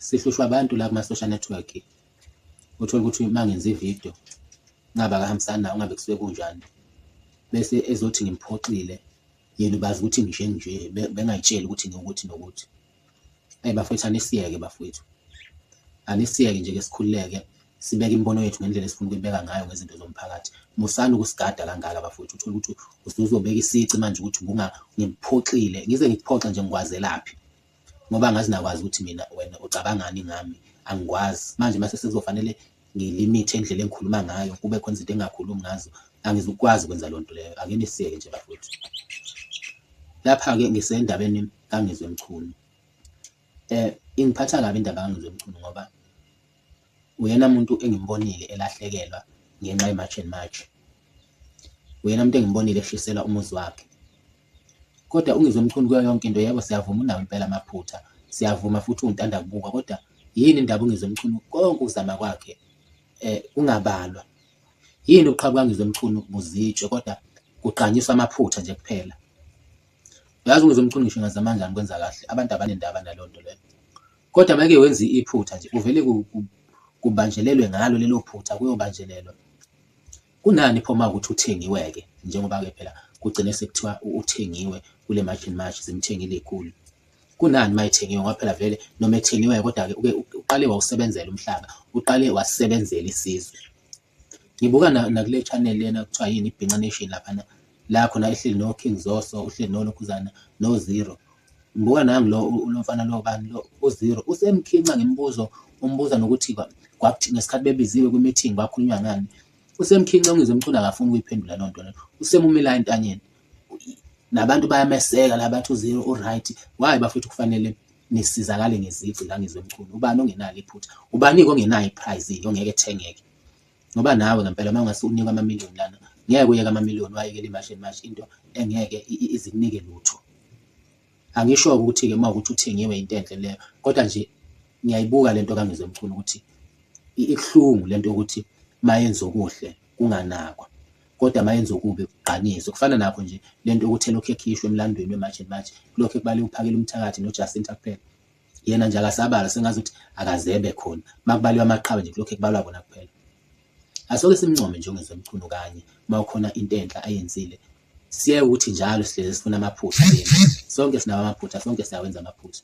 sihlushwa abantu la kuma-social network uthole ukuthi uma ngenza ividiyo ngabe akahambisani nawo ngabe kusuke kunjani bese ezothi ngimphoxile yena ubazi ukuthi ngishe nje bengayitsheli ukuthi ngiwukuthi nokuthi eyi bafowethu anisiyeke bafowethu anisiyeke nje ke sikhululeke sibeke imibono yethu ngendlela esifuna ukuyibeka ngayo ngezinto zomphakathi musani ukusigada kangaka bafowethu uthole ukuthi usuzobeka isici manje ukuthi ngiphoxile ngize ngikuphoxe nje ngikwazelaphi ngoba ngazi nakwazi ukuthi mina wena ucabangani ngami angikwazi manje mase sekuzofanele ngilimithe indlela engikhuluma ngayo kube khona izinto engingakhulumi ngazo angizukwazi ukwenza loo nto leyo ake nisiyeke nje bafowethu lapha-ke ngisendabeni kangizwe mchunu um ingiphatha kabi indaba kangizwe mchunu ngoba uyena muntu engimbonile elahlekelwa ngenxa ye-march and march uyena muntu engimbonile eshisela umuzi wakhe Kodwa uNgizwe Mchunu kuyo yonke into yebo siyavuma unawo impela amaphutha siyavuma futhi uwuntanda kubukwa kodwa yini indaba uNgizwe Mchunu konke ukuzama kwakhe eh kungabalwa yini uqhabuka Ngizwe Mchunu buzitshe kodwa kuqanyiswa amaphutha nje kuphela uyazi uNgizwe Mchunu ngisho ngazama kanjani kwenza kahle abantu abanendaba naleyo nto leyo kodwa make wenza iphutha nje uvele kubanjelelwe ngalo lelo phutha kuyobanjelelwa Kunani pho uma ukuthi uthengiwe-ke njengoba-ke phela kugcine sekuthiwa uthengiwe kule March and March zimthengile iy'khulu. Kunani uma ethengiwe ngoba phela vele noma ethengiwe kodwa-ke uke uqale wawusebenzela umhlaba, uqale wasebenzela isizwe. Ngibuka nakule channel lena kuthiwa yini iBhinca Nation laphana, la khona ehleli no King Zoso uhleli no Lokhuzana no Zero ngibuka nangu lo lo mfana lo bani lo u Zero usemkhinca ngemibuzo umbuza nokuthi kwa- kwakuthi ngesikhathi bebiziwe kwi meeting bakhulunywa ngani usemkhinca ungizwe umcula akafuni ukuyiphendula loo nto leyo usemumela entanyeni nabantu bayameseka la bathi uzero uright why bafethu kufanele nisizakale ngezici la ngizwe mkhulu ubani ongenalo iphutha ubani-ke ongenayo iprize ongeke ethengeke Ngoba nawe ngempela uma ungase unikwe amamiliyoni lana, ngeke uyeke amamiliyoni wayekele imashi nemashi into engeke izikunike lutho. Angisho-ke ukuthi-ke uma ukuthi uthengiwe into enhle leyo, kodwa nje ngiyayibuka le nto kaNgizwe Mchunu ukuthi ibuhlungu le nto yokuthi uma yenza okuhle kunganakwa, kodwa uma yenza okubi kugqanyiswe. Kufana nakho nje le nto yokuthi elokhu ekhishwa emlandweni weMarch and March, kulokhu ekubaliwe uPhakela uMthakathi noJacinta kuphela. yena nje akasabala sengazi ukuthi akazebe khona makubaliwa amaqhawe nje kulokhu ekubalwa kona kuphela asoke simncome nje ongezwe mchunu kanye uma ukhona into enhle ayenzile siye ukuthi njalo sihlezi sifuna amaphutha sonke sinawo amaphutha sonke siyawenza amaphutha